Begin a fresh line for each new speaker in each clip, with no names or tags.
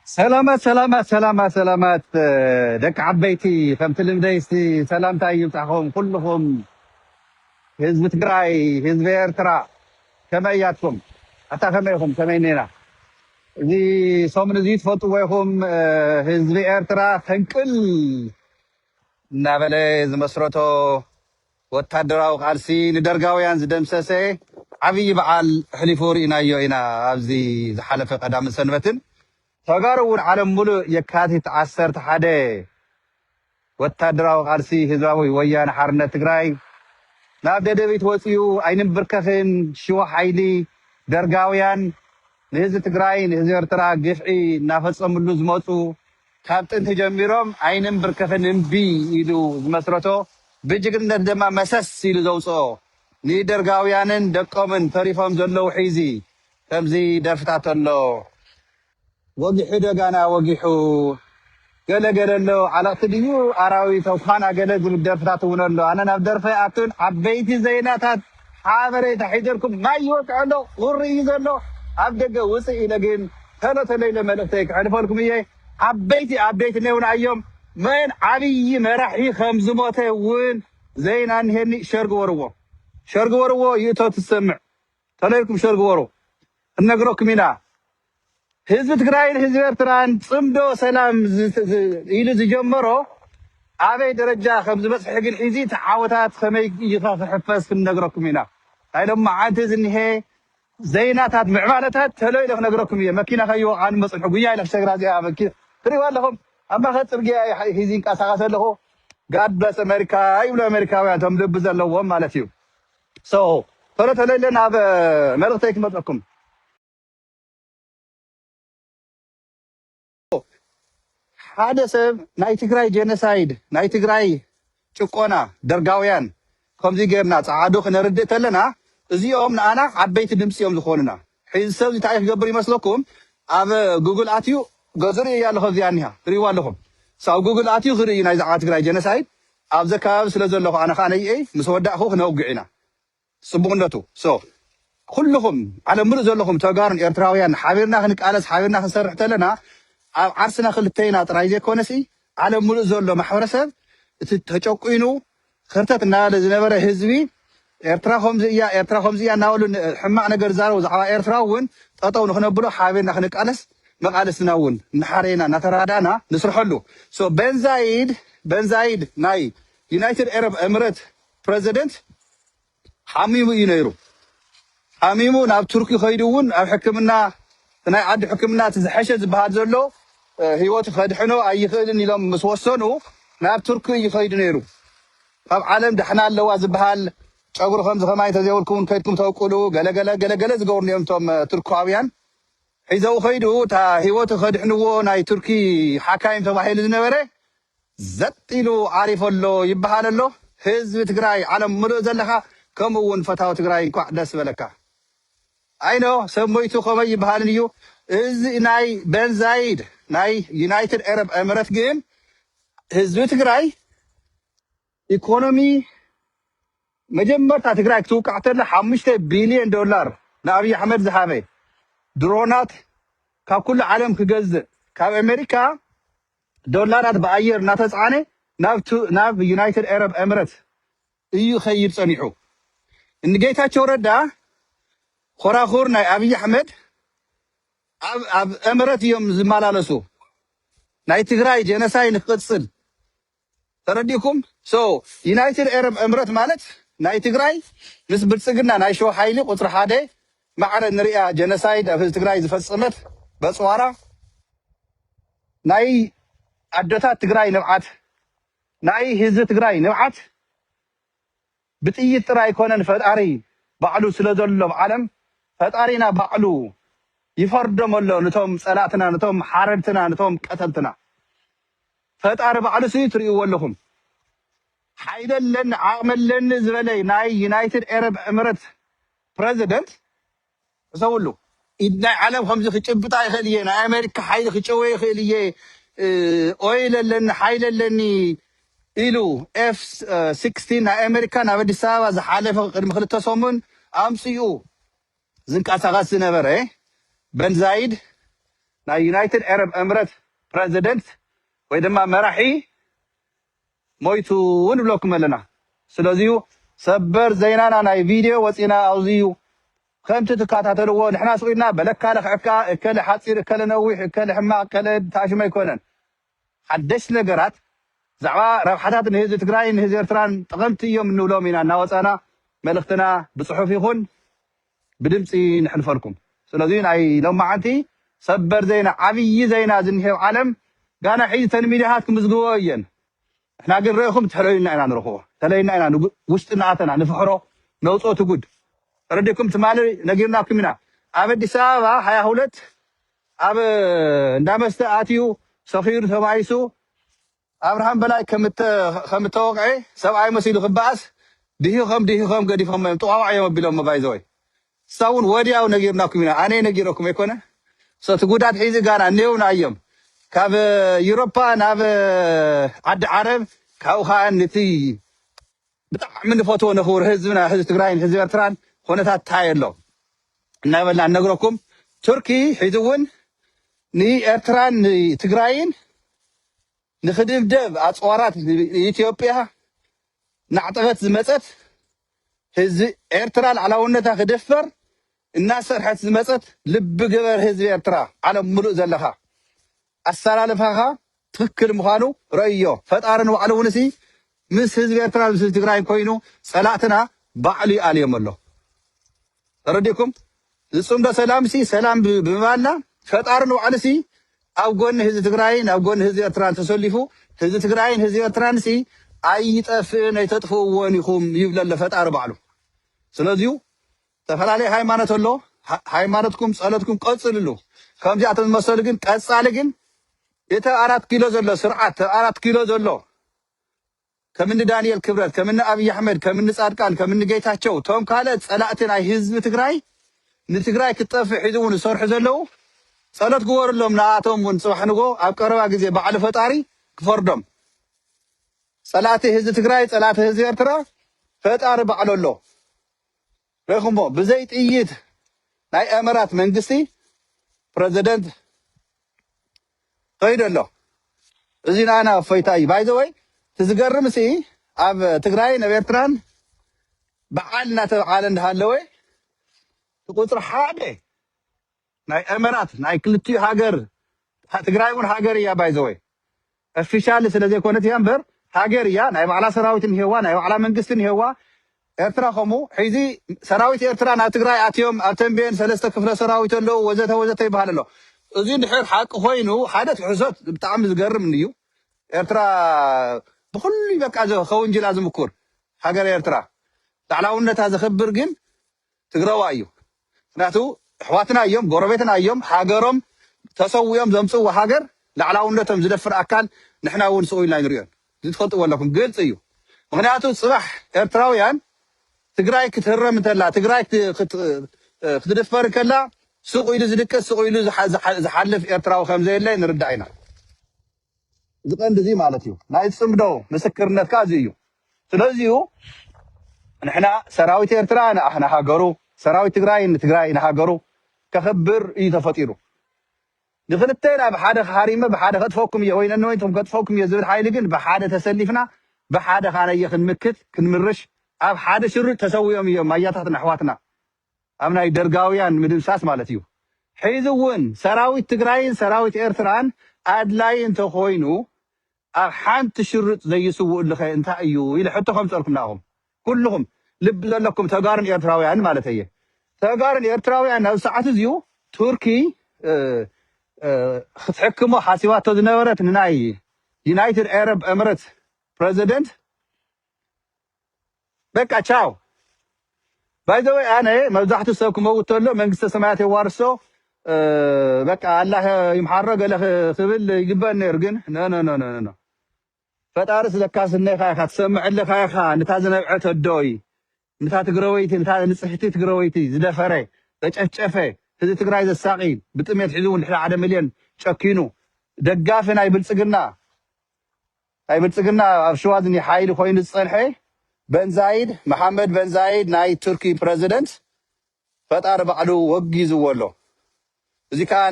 ሰላማት ሰላማት ሰላማት ሰላማት እ፣ ደቂ ዓበይቲ ከምቲ ልምደይ እስቲ ሰላምታ ይብፃኹም ኩልኹም ህዝቢ ትግራይ ህዝቢ ኤርትራ ከመይ እያትኩም ኣታ ከመይ ኢኹም ከመይ ኔና እዚ ሰሙን እዚ ትፈልጥዎ ኢኹም እ፣ ህዝቢ ኤርትራ ፈንቅል እናበለ ዝመስረቶ ወታደራዊ ቃልሲ ንደርጋውያን ዝደምሰሰ ዓብይ በዓል ኣሕሊፉ ርኢናዮ ኢና ኣብዚ ዝሓለፈ ቀዳምን ሰንበትን። ተጋሩ እውን ዓለም ሙሉእ የካቲት ዓሰርተ ሓደ ወታደራዊ ቃልሲ ህዝባዊ ወያነ ሓርነት ትግራይ ናብ ደደቢት ወፂኡ ኣይንምብርከኽን ሽዋ ሓይሊ ደርጋውያን ንህዝቢ ትግራይ ንህዝቢ ኤርትራ ግፍዒ እናፈፀምሉ ዝመፁ ካብ ጥንቲ ጀሚሮም ኣይንምብርከኽን እምቢ ኢሉ ዝመስረቶ ብጅግንነት ደማ መሰስ ኢሉ ዘውጽኦ ንደርጋውያንን ደቆምን ተሪፎም ዘለዉ ሒዚ ከምዚ ደርፍታት ኣሎ። ወጊሑ ዶ ጋና ወጊሑ ገለ ገለ ኣሎ ዓለቕቲ ድዩ ኣራዊት ኳና ገለ ዝብል ደርፍታት እውን ኣሎ ኣነ ናብ ደርፈይ ኣቱን ዓበይቲ ዘይናታት ሓበሬታ ሒዘልኩም ማይ ይወቅዕ ኣሎ ቁሪ እዩ ዘሎ ኣብ ደገ ውጽእ ኢለ ግን ተሎ ተሎ ኢለ መልእክተይ ክሕልፈልኩም እየ ዓበይቲ ኣብዴት እኔውና እዮም መን ዓብይ መራሒ ከም ዝሞተ እውን ዜና እንሄኒ ሸር ግበርዎ ሸር ግበርዎ ይእቶ ትሰምዕ ተሎ ኢልኩም ሸር ግበሩ ክንነግረኩም ኢና ህዝቢ ትግራይን ህዝቢ ኤርትራን ጽምዶ ሰላም ኢሉ ዝጀመሮ ኣበይ ደረጃ ከም ዝበጽሐ ግን ሒዚ እቲ ዓወታት ከመይ እዩ ክሕፈስ ክንነግረኩም ኢና። ናይ ሎማዓንቲ ዝኒሀ ዘይናታት ምዕባለታት ተሎ ኢለ ክነግረኩም እየ። መኪና ከይዎ ኣንሞ ጽንሑ ጉያ ኢለ ክሰግራ እዚኣ መኪና ትሪእዋ ኣለኹም ኣብ ማእከል ጽርግያ እየ ሒዚ ይንቀሳቐስ ኣለኹ። ጋድ ብለስ ኣሜሪካ ይብሉ ኣሜሪካውያን እቶም ልቢ ዘለዎም ማለት እዩ። ሶ ተሎ ተሎ ኢለ ናብ መልእኽተይ ክመጸኩም ሓደ ሰብ ናይ ትግራይ ጀነሳይድ ናይ ትግራይ ጭቆና ደርጋውያን ከምዚ ገርና ጸዓዱ ክነርድእ ተለና እዚኦም ንኣና ዓበይቲ ድምጺ እዮም ዝኾኑና። ሕዚ ሰብ እዚ እንታይ ክገብር ይመስለኩም? ኣብ ጉግል ኣትዩ ገዙ ርእያ ኣለኹ ኣብዚኣ እኒሃ ትርእይዋ ኣለኹም። So ኣብ ጉግል ኣትዩ ክርኢ ናይ ዛዕባ ትግራይ ጀነሳይድ ኣብዚ ከባቢ ስለ ዘለኹ ኣነ ከዓ ነይኤይ ምስ ወዳእኹ ክነውግዕ ኢና። ጽቡቅነቱ so ኩሉኹም ዓለም ምሉእ ዘለኹም ተጋሩን ኤርትራውያን ሓቢርና ክንቃለስ ሓቢርና ክንሰርሕ ተለና ኣብ ዓርስና ክልተይና ጥራይ ዘይኮነሲ ዓለም ምሉእ ዘሎ ማሕበረሰብ እቲ ተጨቁይኑ ከርተት እናበለ ዝነበረ ህዝቢ ኤርትራ ከምዚ እያ ኤርትራ ከምዚ እያ እናበሉ ሕማቅ ነገር ዝዛረቡ ዛዕባ ኤርትራ እውን ጠጠው ንክነብሎ ሓቢርና ክንቃለስ መቃልስትና እውን እናሓረየና እናተራዳእና ንስርሐሉ so በንዛይድ በንዛይድ ናይ ዩናይትድ ኤረብ እምረት ፕረዚደንት ሓሚሙ እዩ ነይሩ። ሓሚሙ ናብ ቱርኪ ከይዱ እውን ኣብ ሕክምና ናይ ዓዱ ሕክምና እቲ ዝሐሸ ዝበሃል ዘሎ ህይወቱ ከድሕኖ ኣይኽእልን ኢሎም ምስ ወሰኑ ናብ ቱርኪ እዩ ከይዱ ነይሩ። ካብ ዓለም ዳሕና ኣለዋ ዝበሃል ጨጉሪ ከምዚ ከማይ እንተዘይብልኩም ከድኩም ተብቁሉ ገለገለ ገለገለ ዝገብሩ እዮም እቶም ቱርካውያን ሒዘው ከይዱ እታ ህይወቱ ከድሕንዎ ናይ ቱርኪ ሓካይም ተባሂሉ ዝነበረ ዘጥ ኢሉ ዓሪፉ ኣሎ ይበሃል ኣሎ ህዝቢ ትግራይ ዓለም ምሉእ ዘለኻ ከምኡ ውን ፈታዊ ትግራይ እንኳዕ ደስ በለካ I know ሰብ ሞይቱ ከመይ ይበሃልን እዩ እዚ ናይ Ben Zayed ናይ United Arab Emirates ግን ህዝቢ ትግራይ ኢኮኖሚ መጀመርታ ትግራይ ክትውቃዕ ተላ ሓሙሽተ ቢልዮን ዶላር ንኣብይ ኣሕመድ ዝሃበ ድሮናት ካብ ኩሉ ዓለም ክገዝእ ካብ ኣሜሪካ ዶላራት ብኣየር እናተፅዓነ ናብ ዩናይትድ ኤረብ ኤምረት እዩ ኸይድ ፀኒሑ። እንጌታቸው ረዳ ኾራኹር ናይ ኣብይ ኣሕመድ ኣብ ኤምረት እዮም ዝመላለሱ ናይ ትግራይ ጀነሳይ ንክቕፅል ተረዲኩም so ዩናይትድ ኤረብ ኤምረት ማለት ናይ ትግራይ ምስ ብልጽግና ናይ ሸዋ ሓይሊ ቁጽሪ ሓደ ማዕረ እንርእያ ጀነሳይድ ኣብ ህዝቢ ትግራይ ዝፈጸመት በጽዋራ ናይ ኣደታት ትግራይ ንብዓት ናይ ህዝቢ ትግራይ ንብዓት ብጥይት ጥራይ ኣይኮነን ፈጣሪ ባዕሉ ስለ ዘሎ ኣብ ዓለም ፈጣሪና ባዕሉ ይፈርዶም ኣሎ ንቶም ጸላእትና ንቶም ሓረድትና ንቶም ቀተልትና ፈጣሪ ባዕሉ ሲ ትሪእዎ ኣለኹም ሓይሊ ኣለኒ ዓቕሚ ኣለኒ ዝበለ ናይ ዩናይትድ ኤረብ ዕምረት ፕረዚደንት ሕሰብሉ ኢድ ናይ ዓለም ከምዚ ክጭብጣ ይክእል እየ ናይ ኣሜሪካ ሓይሊ ክጨወ ይክእል እየ ኦይል ኣለኒ ሓይሊ ኣለኒ ኢሉ ኤፍ ስክስቲን ናይ ኣሜሪካ ናብ ኣዲስ ኣበባ ዝሓለፈ ቅድሚ ክልተ ሰሙን ኣምፅኡ ዝንቀሳቀስ ዝነበረ በን ዛይድ ናይ ዩናይትድ ዓረብ እምረት ፕረዚደንት ወይ ድማ መራሒ ሞይቱ ውን ንብለኩም ኣለና ስለዚዩ ሰበር ዘይናና ናይ ቪድዮ ወጺና ኣውዚዩ ከምቲ ትካታተልዎ ንሕና ስቅ ኢልና በለካ ለክዐካ እከለ ሓጺር እከለ ነዊሕ እከለ ሕማቅ እከለ ታሽሙ ኣይኮነን ሓደሽቲ ነገራት ብዛዕባ ረብሓታት ንህዚ ትግራይን ንህዚ ኤርትራን ጠቀምቲ ኢዮም እንብሎም ኢና እናወጻና መልእክትና ብጽሑፍ ይኩን ብድምጺ ነሕልፈልኩም ስለዚ ናይ ሎማዓንቲ ሰበር ዜና ዓብይ ዜና ዝኒሀ ኣብ ዓለም ጋና ሒዚ እተን ሚድያታት ክምዝግበኦ እየን ንሕና ግን ረኢኹም ትሕለዩልና ኢና ንረኽቦ ተለይና ኢና ውሽጢ እናኣተና ንፍሕሮ ነውፅኦ እቲ ጉድ ተረዲእኩም ትማሊ ነጊርናኩም ኢና ኣብ ኣዲስ ኣበባ ሃያ ሁለት ኣብ እንዳመስተ ኣትዩ ሰኺሩ ተባኢሱ ኣብርሃም በላይ ከም እተወቕዔ ሰብኣይ መሲሉ ክበኣስ ድሂኾም ድሂኾም ገዲፎሞ እዮም ጥዋዋዕ እዮም ኣቢሎሞ ባይዘወይ ንሳ ውን ወድያው ነጊርናኩም ኢና ኣነይ ነጊረኩም ኣይኮነ ሶ እቲ ጉዳት ሒዚ ጋና ኔው ናዮም ካብ ዩሮፓ ናብ ዓዲ ዓረብ ካብኡ ከኣ ንቲ ብጣዕሚ ንፈትዎ ንክቡር ህዝብና ህዝቢ ትግራይን ህዝቢ ኤርትራን ኹነታት ታይ ኣሎ እናበልና ንነግረኩም ቱርኪ ሒዚ እውን ንኤርትራን ንትግራይን ንክድብደብ ኣፅዋራት ንኢትዮጵያ ናዕጠቀት ዝመፀት ህዝቢ ኤርትራ ላዕላውነታ ክድፈር እናሰርሐት ዝመጸት ልቢ ግበር ህዝቢ ኤርትራ ዓለም ምሉእ ዘለኻ ኣሳላልፋኻ ትኽክል ምኻኑ ረእዮ ፈጣሪ ንባዕሉ ውን ሲ ምስ ህዝቢ ኤርትራን ምስ ህዝቢ ትግራይን ኮይኑ ጸላእትና ባዕሉ ይኣልዮም ኣሎ ተረዲእኩም ዝጽምዶ ሰላም ሲ ሰላም ብምባልና ፈጣሪ ንባዕሉ ሲ ኣብ ጎኒ ህዝቢ ትግራይን ኣብ ጎኒ ህዝቢ ኤርትራን ተሰሊፉ ህዝቢ ትግራይን ህዝቢ ኤርትራን ሲ ኣይጠፍእን ኣይተጥፍእዎን ኢኹም ይብለ ኣሎ ፈጣሪ ባዕሉ ስለዚዩ ዝተፈላለየ ሃይማኖት ኣሎ ሃይማኖትኩም ፀሎትኩም ቀፅልሉ ከምዚኣቶም ዝመሰሉ ግን ቀፃሊ ግን እቲ ኣብ ኣራት ኪሎ ዘሎ ስርዓት ኣብ ኣራት ኪሎ ዘሎ ከምኒ ዳንኤል ክብረት ከምኒ ኣብይ ኣሕመድ ከምኒ ፃድቃን ከምኒ ጌታቸው እቶም ካልኦት ፀላእቲ ናይ ህዝቢ ትግራይ ንትግራይ ክትጠፍእ ሒዙ እውን ዝሰርሑ ዘለው ፀሎት ግበርሎም ንኣቶም እውን ፅባሕ ንጎ ኣብ ቀረባ ግዜ ባዕሉ ፈጣሪ ክፈርዶም ፀላእቲ ህዝቢ ትግራይ ፀላእቲ ህዝቢ ኤርትራ ፈጣሪ ባዕሉ ኣሎ ርኢኹሞ ብዘይ ጥይት ናይ ኤመራት መንግስቲ ፕረዘደንት ከይዱ ኣሎ እዚ ንኣና እፎይታ እዩ ባይዘወይ እቲ ዝገርም ሲ ኣብ ትግራይን ኣብ ኤርትራን በዓል እናተበዓለ እንዳሃለወ እቲ ቁፅሪ ሓደ ናይ ኤመራት ናይ ክልቲኡ ሃገር ትግራይ ውን ሃገር እያ ባይዘወይ ኦፊሻሊ ስለ ዘይኮነት እያ እምበር ሃገር እያ ናይ ባዕላ ሰራዊት እንሄዋ ናይ ባዕላ መንግስቲ እንሄዋ ኤርትራ ከምኡ ሕዚ ሰራዊት ኤርትራ ናብ ትግራይ ኣትዮም ኣብ ተንቤን ሰለስተ ክፍለ ሰራዊት ኣለዉ ወዘተ ወዘተ ይበሃል ኣሎ እዚ እንድሕር ሓቂ ኮይኑ ሓደ ትሕሶት ብጣዕሚ ዝገርም እዩ ኤርትራ ብኩሉ በቃ ከውንጅላ ዝምኩር ሃገር ኤርትራ ላዕላውነታ ዘኽብር ግን ትግራዋይ እዩ ምክንያቱ እሕዋትና እዮም ጎረቤትና እዮም ሃገሮም ተሰዊኦም ዘምጽዎ ሃገር ላዕላውነቶም ዝደፍር ኣካል ንሕና እውን ስኡ ኢልና ኣይንሪኦን እዚ ትፈልጥዎ ኣለኩም ግልጽ እዩ ምክንያቱ ጽባሕ ኤርትራውያን ትግራይ ክትህረም እንተላ ትግራይ ክትድፈር እንከላ ስቕ ኢሉ ዝድቅስ ስቕ ኢሉ ዝሓልፍ ኤርትራዊ ከምዘየለ ንርዳእ ኢና እዚ ቀንዲ እዚ ማለት እዩ ናይ ፅምዶ ምስክርነት ከዓ እዚ እዩ ስለዚ እዩ ንሕና ሰራዊት ኤርትራ ንሃገሩ ሰራዊት ትግራይ ንትግራይ ንሃገሩ ከኽብር እዩ ተፈጢሩ ንክልተና ብሓደ ሃሪመ ብሓደ ከጥፈኩም እየ ወይ ነንወይንኩም ከጥፈኩም እየ ዝብል ሓይሊ ግን ብሓደ ተሰሊፍና ብሓደ ካነየ ክንምክት ክንምርሽ ኣብ ሓደ ሽርጥ ተሰዊኦም እዮም ኣያታትና ኣሕዋትና ኣብ ናይ ደርጋውያን ምድምሳስ ማለት እዩ። ሕዚ እውን ሰራዊት ትግራይን ሰራዊት ኤርትራን ኣድላይ እንተኾይኑ ኣብ ሓንቲ ሽርጥ ዘይስውእሉኸ እንታይ እዩ ኢለ ሕቶ ከምፅኣልኩም ንኣኹም ኩሉኹም ልቢ ዘለኩም ተጋሩን ኤርትራውያንን ማለት እየ። ተጋሩን ኤርትራውያንን ኣብዚ ሰዓት እዚኡ ቱርኪ ክትሕክሞ ሓሲባቶ ዝነበረት ንናይ ዩናይትድ ኤረብ ኤምረት ፕረዚደንት በቃ ቻው ባይዘወይ ኣነ መብዛሕትኡ ሰብ ክመውት ተሎ መንግስተ ሰማያት የዋርሶ እ፣ በቃ ኣላህ ይምሓሮ ገለ ክ- ክብል ይግበእ ነይሩ ግን ኖ ኖ ኖ ኖ ኖ ፈጣሪ ስለካስ እነኻ ኢኻ ትሰምዕ ኣለኻ ኢኻ ነታ ዝነብዐት ኣዶይ ነታ ትግራወይቲ ነታ ንፅሕቲ ትግራወይቲ ዝደፈረ ዘጨፍጨፈ ህዝቢ ትግራይ ዘሳቂ ብጥሜት ሒዙ እውን ድሕሪ ሓደ ሚልዮን ጨኪኑ ደጋፊ ናይ ብልፅግና ናይ ብልጽግና ኣብ ሽዋ ዝኒሀ ሓይሊ ኮይኑ ዝጸንሐ በንዛይድ መሓመድ በንዛይድ ናይ ቱርኪ ፕረዚደንት ፈጣሪ ባዕሉ ወጊዝዎ ኣሎ። እዚ ከኣ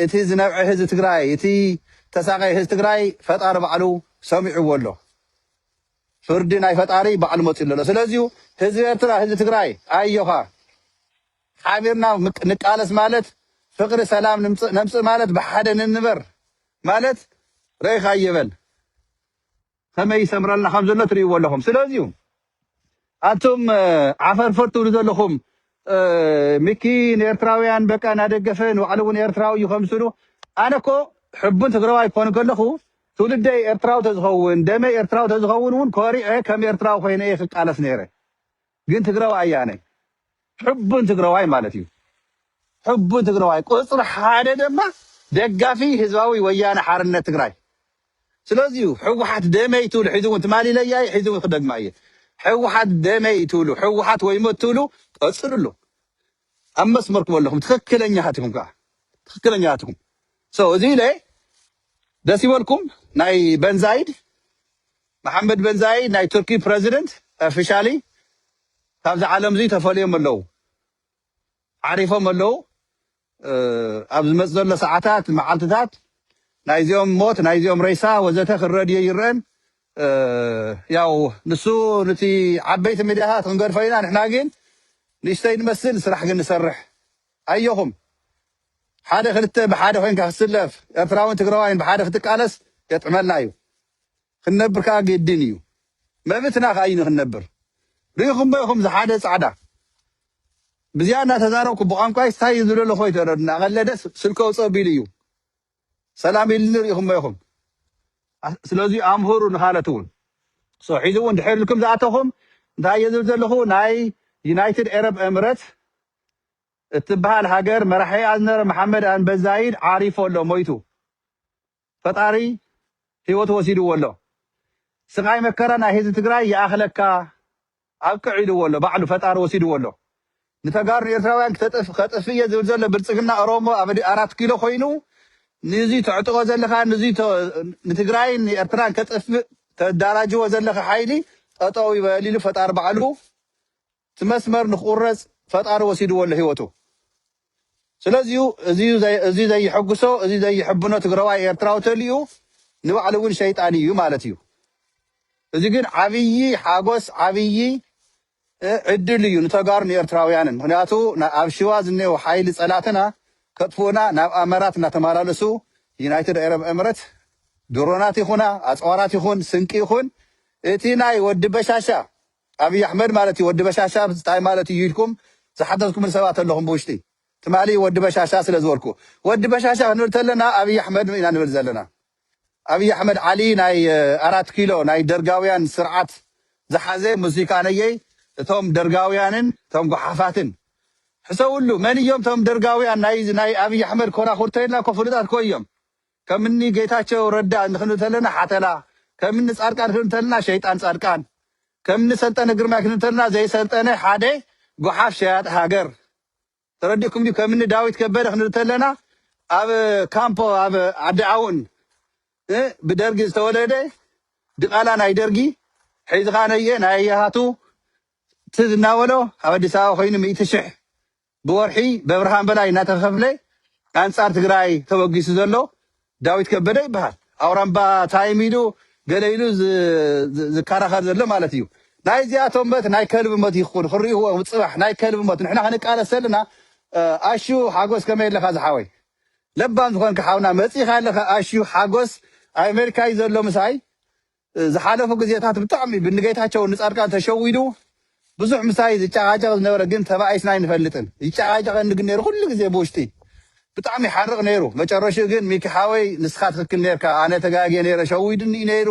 እቲ ዝነብዐ ህዝቢ ትግራይ እቲ ዝተሳቐየ ህዝቢ ትግራይ ፈጣሪ ባዕሉ ሰሚዕዎ ኣሎ። ፍርዲ ናይ ፈጣሪ ባዕሉ መጺኡሉ ኣሎ። ስለዚዩ ህዝቢ ኤርትራ ህዝቢ ትግራይ ኣዮኻ! ሓቢርና ንቃለስ ማለት ፍቅሪ ሰላም ንምጽእ ነምጽእ ማለት ብሓደ ንንበር ማለት ረኢኻዮ በል ከመይ ይሰምረልና ከም ዘሎ ትርእይዎ ኣለኹም ስለዚዩ ኣቱም ዓፈርፈር ትብሉ ዘለኹም ሚኪ ንኤርትራውያን በቃ እናደገፈ ንባዕሉ እውን ኤርትራዊ እዩ ከምስሉ ኣነ እኮ ሕቡን ትግራዋይ ክኾን ከለኹ ትውልደይ ኤርትራዊ ተዝኸውን ደመይ ኤርትራዊ ተዝኸውን እውን ኮሪዐ ከም ኤርትራዊ ኮይነ እየ ክቃለስ ነይረ ግን ትግራዋይ ኣያነ ሕቡን ትግራዋይ ማለት እዩ ሕቡን ትግራዋይ ቁፅሪ ሓደ ደማ ደጋፊ ህዝባዊ ወያነ ሓርነት ትግራይ ስለዚዩ ሕወሓት ደመይ ትብሉ ሕዚ እውን ትማሊ ኢለያ እየ ሕዚ እውን ክደግማ እየ ሕወሓት ደመይ ትብሉ ሕወሓት ወይ ሞት ትብሉ ቀፅልሉ ኣብ መስመርኩም ኣለኹም ትክክለኛታት ኢኹም ከዓ ትክክለኛታት ኢኹም ሰው እዚ ኢለ ደስ ይበልኩም ናይ በንዛይድ መሓመድ በንዛይ ናይ ቱርኪ ፕረዚደንት ኦፊሻሊ ካብዚ ዓለምዚ ተፈልዮም ኣለው ዓሪፎም ኣለው ኣብ ዝመጽእ ዘሎ ሰዓታት መዓልትታት ናይዚኦም ሞት ናይዚኦም ሬሳ ወዘተ ክረድዮ ኣይረኣን ያው ንሱ ንቲ ዓበይቲ ሚድያታት ክንገድፎ ኢና ንሕና ግን ንእሽተይ ንመስል ስራሕ ግን ንሰርሕ ኣየኹም ሓደ ክልተ ብሓደ ኮንካ ክትስለፍ ኤርትራውን ትግራዋይን ብሓደ ክትቃለስ የጥዕመልና እዩ ክንነብር ከኣ ግድን እዩ መብትና ከኣ እዩ ንክንነብር ሪኢኹሞ ኢኹም ዝሓደ ጻዕዳ ብዚኣ እናተዛረብኩ ብቋንቋይ ስታይ እዩ ዝደሎ ኮይ ተረዱ እናቀለደ ደስ ስልከው ጸቢሉ እዩ ሰላም ኢልኒ ሪኢኹሞ ኢኹም ስለዚ ኣምህሩ ንኻለት እውን ሶ ሒዚ እውን ድሕር ኢልኩም ዝኣተኹም እንታይ እየ ዝብል ዘለኹ ናይ ዩናይትድ ኤረብ ኤምረት እትበሃል ሃገር መራሒኣ ዝነበረ መሓመድ ኣንበዛይድ ዓሪፎ ኣሎ ሞይቱ ፈጣሪ ሂወቱ ወሲድዎ ኣሎ ስቃይ መከራ ናይ ህዝቢ ትግራይ ይኣክለካ ኣብቅዕ ኢልዎ ኣሎ ባዕሉ ፈጣሪ ወሲድዎ ኣሎ ንተጋሩ ንኤርትራውያን ክተጥፍ ከጥፍእ እየ ዝብል ዘሎ ብልጽግና ኦሮሞ ኣብ ኣራት ኪሎ ኮይኑ ንዙይ ተዕጥቆ ዘለካ ንዙይ ንትግራይን ንኤርትራን ከጥፍእ ተዳራጅዎ ዘለካ ሓይሊ ጠጠው ይበል ኢሉ ፈጣሪ ባዕሉ እቲ መስመር ንክቁረፅ ፈጣሪ ወሲድዎ ኣሎ ህይወቱ ስለዚዩ እዙይ ዘይሕጉሶ እዙይ ዘይሕብኖ ትግረዋይ ኤርትራዊ ተልኡ ንባዕሉ እውን ሸይጣን እዩ ማለት እዩ እዙይ ግን ዓብዪ ሓጎስ ዓብዪ ዕድል እዩ ንተጋሩ ንኤርትራውያንን ምክንያቱ ኣብ ሽዋ ዝኔው ሓይሊ ፀላእትና ከጥፍኡና ናብ ኣመራት እናተመላለሱ ዩናይትድ ኤረብ ኤምረት ድሮናት ይኹና ኣፅዋራት ይኹን ስንቂ ይኹን እቲ ናይ ወዲ በሻሻ ኣብይ ኣሕመድ ማለት እዩ ወዲ በሻሻ ታይ ማለት እዩ ኢልኩም ዝሓተትኩምኒ ሰባት ኣለኹም ብውሽጢ ትማሊ ወዲ በሻሻ ስለ ዝበልኩ ወዲ በሻሻ ክንብል ተለና ኣብይ ኣሕመድ ኢና ንብል ዘለና ኣብይ ኣሕመድ ዓሊ ናይ ኣራት ኪሎ ናይ ደርጋውያን ስርዓት ዝሓዘ ሙዚቃነየይ እቶም ደርጋውያንን እቶም ጎሓፋትን ሕሰብሉ መን እዮም እቶም ደርጋውያን ናይ ናይ ኣብይ ኣሕመድ ኮራኹር ተይልና እኮ ፍሉጣት እኮ እዮም ከም እኒ ጌታቸው ረዳ ክንብል ተለና ሓተላ፣ ከም እኒ ፃድቃን ክንብል ተለና ሸይጣን ፃድቃን፣ ከም እኒ ሰልጠነ ግርማይ ክንብል ተለና ዘይሰልጠነ ሓደ ጉሓፍ ሸያጢ ሃገር፣ ተረዲእኩም ድዩ? ከም እኒ ዳዊት ከበደ ክንብል ተለና ኣብ ካምፖ ኣብ ዓዲ ኣውን እ ብደርጊ ዝተወለደ ድቓላ ናይ ደርጊ ሒዝኻ ነየ ናይ የሃቱ ትዝ እናበሎ ኣብ ኣዲስ ኣበባ ኮይኑ ሚእቲ ሽሕ ብወርሒ በብርሃን በላይ እናተኸፍለ ኣንፃር ትግራይ ተበጊሱ ዘሎ ዳዊት ከበደ ይበሃል። ኣውራምባ ታይም ኢሉ ገለ ኢሉ ዝከራኸር ዘሎ ማለት እዩ። ናይ እዚኣቶም ሞት ናይ ከልቢ ሞት ይኹን ክሪእዎ ፅባሕ ናይ ከልቢ ሞት ንሕና ክንቃለስ ዘለና ኣሹ ሓጎስ ከመይ ኣለኻ ዝሓወይ ለባም ዝኾንካ ሓውና መፂእኻ ኣለኻ ኣሹ ሓጎስ ኣብ ኣሜሪካ እዩ ዘሎ ምሳይ ዝሓለፉ ግዜታት ብጣዕሚ ብንጌታቸው ንፃድቃን ተሸዊዱ ብዙሕ ምሳይ ዝጨቃጨቅ ዝነበረ ግን ተባኢስና ኣይንፈልጥን ይጨቃጨቀኒ ግን ነይሩ ኩሉ ግዜ ብውሽጢ ብጣዕሚ ይሓርቅ ነይሩ መጨረሽኡ ግን ሚኪ ሓወይ ንስካ ትክክል ነይርካ ኣነ ተጋግየ ነይረ ሸዊዱኒ እዩ ነይሩ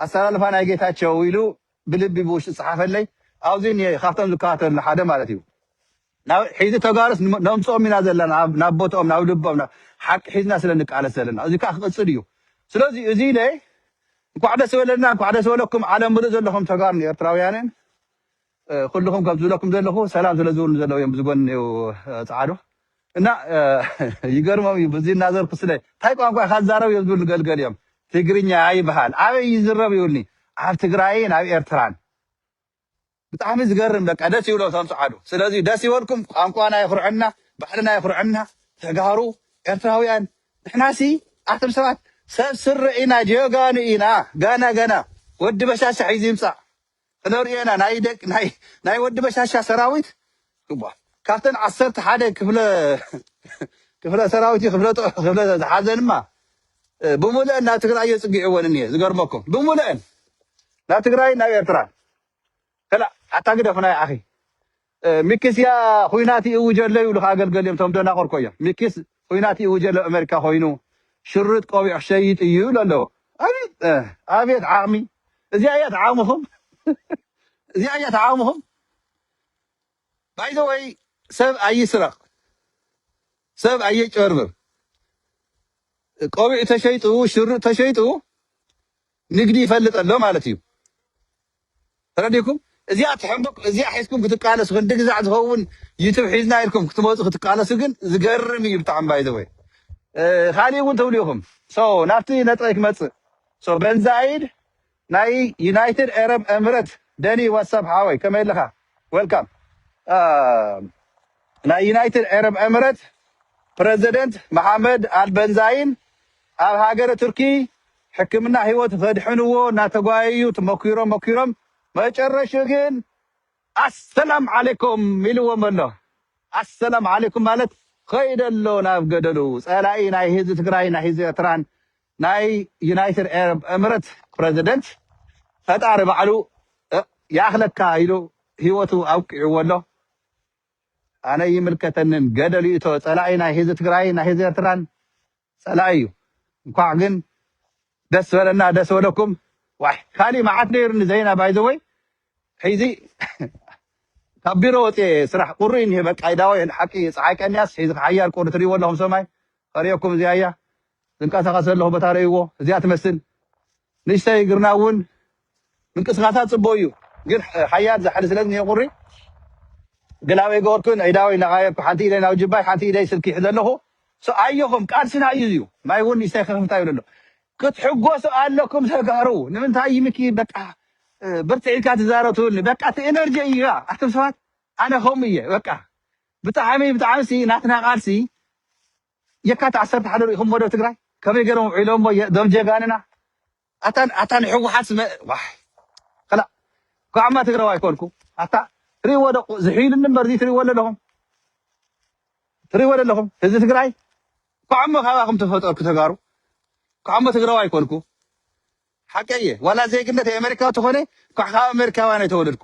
ኣሰላልፋ ናይ ጌታቸው ኢሉ ብልቢ ብውሽጢ ዝፀሓፈለይ ኣብዙይ እኒሀ ካብቶም ዝከታተሉ ሓደ ማለት እዩ ናብ ሒዚ ተጋሩስ ነምጽኦም ኢና ዘለና ናብ ቦትኦም ናብ ልቦም ናብ ሓቂ ሒዝና ስለ ንቃለስ ዘለና እዚ ከኣ ክቅጽል ኢዩ ስለዚ እዚ ኢለ እንኳዕ ደስ በለና እንኳዕ ደስ በለኩም ዓለም ምሉእ ዘለኹም ተጋሩን ኤርትራውያንን ኩልኹም ከም ዝብለኩም ዘለኹ ሰላም ስለ ዝብሉ ዘለዉ እዮም ዝጎኒ እኔው ጻዕዱ እና ይገርሞም እዩ ብዙ እናዘርኩ ስለ እንታይ ቋንቋ ኢኻ ዝዛረብ እዮም ዝብሉ ገልገል እዮም ትግርኛ ይበሃል ኣበይ ይዝረብ ይብልኒ ኣብ ትግራይን ኣብ ኤርትራን ብጣዕሚ ዝገርም በቃ ደስ ይብሎ እቶም ጸዓዱ ስለዚ ደስ ይበልኩም ቋንቋና የኹርዐና ባህልና የኹርዐና ተጋሩ ኤርትራውያን ንሕናሲ ኣቱም ሰባት ሰብ ስረ ኢና ጀጋኑ ኢና ገና ገና ወዲ በሻሻ ሒዙ ይምጻእ ክነርእዮና ናይ ደቂ ናይ ናይ ወዲ በሻሻ ሰራዊት ግባ ካብተን ዓሰርተ ሓደ ክፍለ ክፍለ ሰራዊት ክፍለ ክፍለ ዝሓዘንማ ብሙሉአን ናብ ትግራይ እዮ ጽጊዕወን እኒሄ ዝገርመኩም ብሙሉአን ናብ ትግራይ ናብ ኤርትራ ከላእ ኣታ ግደፍ ናይ ዓኺ ሚኪስ እያ ኹናት ይእውጅ ኣሎ ይብሉኻ ገልገል እዮም እቶም ደናቑር እኮ እዮም ሚኪስ ኹናት ይእውጅ ኣሎ ኣብ ኣመሪካ ኮይኑ ሽርጥ ቆቢዕ ክሸይጥ እዩ ይብሉ ኣለዉ ኣቤት ኣቤት ዓቕሚ እዚኣ እያ ተዓቕምኹም እዚኣ እያ ተዓቕምኹም ባይ ዘ ወይ ሰብ ኣይስረቕ ሰብ ኣየጭበርብር ቆቢዕ ተሸይጡ ሽርጥ ተሸይጡ ንግዲ ይፈልጥ ኣሎ ማለት እዩ ተረዲኩም እዚኣ ትሕምብቅ እዚኣ ሒዝኩም ክትቃለሱ ክንዲ ግዛዕ ዝኸውን ዩቱብ ሒዝና ኢልኩም ክትመጹ ክትቃለሱ ግን ዝገርም እዩ ብጣዕሚ ባይ ዘ ወይ ካሊእ እውን ትብሉ ኢኹም ሶ ናብቲ ነጥበይ ክመጽእ ሶ በንዛይድ ናይ ዩናይትድ ኤረብ ኤምረት ደኒ ዋትሳፕ ሓወይ ከመይ ኣለኻ ዌልካም ናይ ዩናይትድ ኤረብ ኤምረት ፕረዚደንት መሓመድ ኣልበንዛይን ኣብ ሃገረ ቱርኪ ሕክምና ህይወት ኸድሕንዎ እናተጓየዩ ትመኲሮ መኲሮም መጨረሽኡ ግን ኣሰላም ዓሌኩም ኢልዎም ኣሎ። ኣሰላም ዓሌኩም ማለት ኸይደ ኣሎ ናብ ገደሉ። ፀላኢ ናይ ህዝቢ ትግራይን ናይ ህዝቢ ኤርትራን ናይ ዩናይትድ ኤረብ እምረት ፕረዚደንት ፈጣሪ ባዕሉ ይኣኽለካ ኢሉ ህይወቱ ኣብቂዕዎ ኣሎ። ኣነ ኣይምልከተንን ገደል ይእቶ ፀላኢ ናይ ህዝቢ ትግራይን ናይ ህዝቢ ኤርትራን ፀላኢ እዩ እንኳዕ ግን ደስ በለና ደስ በለኩም ዋይ ካሊእ መዓት ነይሩኒ ዘይና ባይ ዘ ወይ ሒዚ ካብ ቢሮ ወፅየ ስራሕ ቁሪ እኒሀ በቃ ይዳወ ሓቂ ፀሓይ ቀንያስ ሒዚ ሓያል ቁሪ ትሪእዎ ኣለኹም ሰማይ ከሪኦኩም እዚኣ እያ ዝንቀሳቐስ ዘለኹ ቦታ ረእይዎ እዚኣ ትመስል ንእሽተይ እግርና እውን ምንቅስቃሳ ፅቡቅ እዩ ግን ሓያል ዛሕሊ ስለ ዝኒሀ ቁሪ ገላበይ ገበርኩን ኣእዳወይ እናቀያየርኩ ሓንቲ ኢደይ ናብ ጅባይ ሓንቲ ኢደይ ስልኪ ይሕዘ ኣለኩ ሶ ኣዮኩም ቃልስና እዩ እዚዩ ማይ እውን ንእሽተይ ክክፍታ ይብል ኣሎ ክትሕጎሱ ኣለኩም ተጋሩ ንምንታይ እዩ ምኪ በቃ ብርትዕ ኢልካ ትዛረብ ትብልኒ በቃ እቲ ኤነርጂ እዩ ኣቱም ሰባት ኣነ ከምኡ እየ በቃ ብጣዕሚ ብጣዕሚ ሲ ናትና ቃልሲ የካት ዓሰርተ ሓደ ሪኢኹሞ ዶ ትግራይ ከመይ ገሮም ኣውዒሎሞ ዞም ጀጋንና ኣታ ኣታ ንሕዋሓት መ ዋይ ከላእ ኳዕማ ትግራዋይ ኮንኩ ኣታ ትሪእዎ ዶ ዝሕይሉኒ እምበር እዚ ትሪእዎ ኣለኹም ትሪእዎ ኣለኹም ህዝቢ ትግራይ ኳዕሞ ካባኹም ተፈጠርኩ ተጋሩ ኳዕሞ ትግራዋይ ኮንኩ ሓቀየ ዋላ ዜግነት ኣሜሪካዊ ተኾነ ኳዕ ካብ ኣሜሪካውያን ኣይተወለድኩ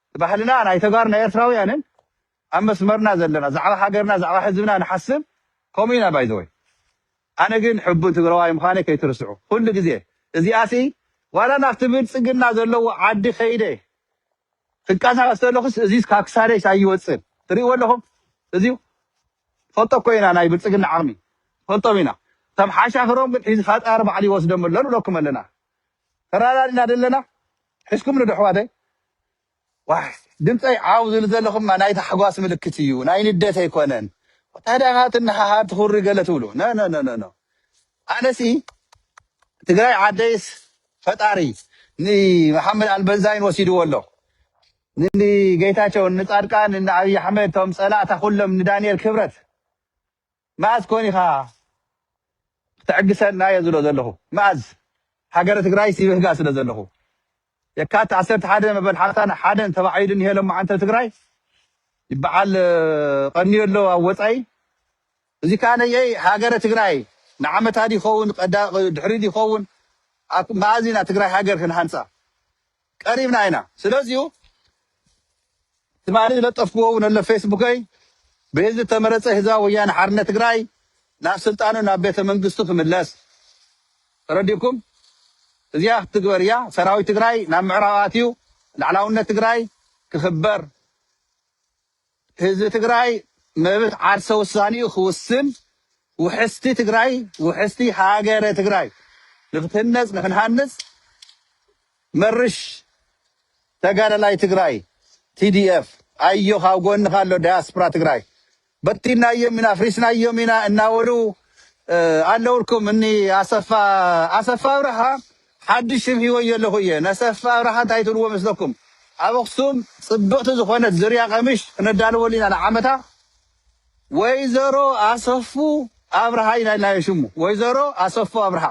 ንባሕልና ናይ ተጋሩን ናይ ኤርትራውያንን ኣብ መስመርና ዘለና ዛዕባ ሃገርና ዛዕባ ህዝብና ንሓስብ ከምኡ ኢና ባይ ዘ ወይ ኣነ ግን ሕቡን ትግራዋይ ምዃነይ ከይትርስዑ ኩሉ ግዜ እዚኣሲ ዋላ ናብቲ ብልጽግና ዘለዎ ዓዲ ከይደ ክንቀሳቀስ ተለኹስ እዚስ ካብ ክሳደይስ ኣይወጽን ትርእይዎ ኣለኹም እዚዩ ፈልጦ እኮ ኢና ናይ ብልጽግና ዓቕሚ ፈልጦም ኢና ከም ሓሻኽሮም ግን ሒዚ ፈጣሪ ባዕሉ ይወስዶም ኣሎ ንብለኩም ኣለና ተራዳድና ደለና ሒዝኩምኒ ዶ ኣሕዋተይ ዋይ ድምፀይ ዓው ዝብል ዘሎ ክማ ናይ ታሕጓስ ምልክት እዩ ናይ ንደት ኣይኮነን ታዲያ ከ ትነሃሃር ትኹሪ ገለ ትብሉ ኖኖኖኖ ኣነሲ ትግራይ ዓደይስ ፈጣሪ ንመሓመድ ኣልበንዛይን ወሲድዎ ኣሎ ንጌታቸው ንፃድቃን ንኣብይ ኣሕመድ ቶም ፀላእታ ኩሎም ንዳንኤል ክብረት መኣዝ ኮን ኢኻ ክተዕግሰና እየ ዝብሎ ዘለኹ መኣዝ ሃገረ ትግራይስ ይብህጋ ስለ ዘለኹ የካቲት ዓሰርተ ሓደ መበል ሓምሳን ሓደን ተባዒሉ እኒሀ ሎሚ ዓንተር ትግራይ ይበዓል ቀንዮ ኣሎ ኣብ ወፃኢ እዚ ከዓ ነየይ ሃገረ ትግራይ ንዓመታት ይኸውን ድሕሪ ይኸውን መኣዝ ኢና ትግራይ ሃገር ክንሃንፃ ቀሪብና ኢና ስለዚዩ ትማሊ ዝለጠፍክዎ ውን ኣሎ ፌስቡከይ ብህዝቢ ዝተመረፀ ህዝባዊ ወያነ ሓርነት ትግራይ ናብ ስልጣኑ ናብ ቤተ መንግስቱ ክምለስ ተረዲኩም እዚኣ ክትግበር እያ ሰራዊት ትግራይ ናብ ምዕራብ ኣትዩ ላዕላውነት ትግራይ ክኽበር ህዝቢ ትግራይ መብት ዓርሰ ውሳኔኡ ክውስን ውሕስቲ ትግራይ ውሕስቲ ሃገረ ትግራይ ንክትህነፅ ንክንሃንፅ መርሽ ተጋዳላይ ትግራይ tdf ኣዮኻ ኣብ ጎንኻ ኣሎ ዳያስፕራ ትግራይ በቲናዮም ኢና ኣፍሪስናዮም ኢና እናበሉ ኣለውልኩም እኒ ኣሰፋ ኣሰፋ ኣብርሃ ሓዱሽ ስም ሂወዮ ኣለኩ እየ ነሰፋ ኣብርሃ እንታይ ትብልዎ መስለኩም ኣብ ኣክሱም ጽብቅቲ ዝኮነት ዝርያ ቀምሽ ክነዳልወሉ ኢና ንዓመታ ወይዘሮ ኣሰፉ ኣብርሃ ኢና ኢልናዮ ሽሙ ወይዘሮ ኣሰፉ ኣብርሃ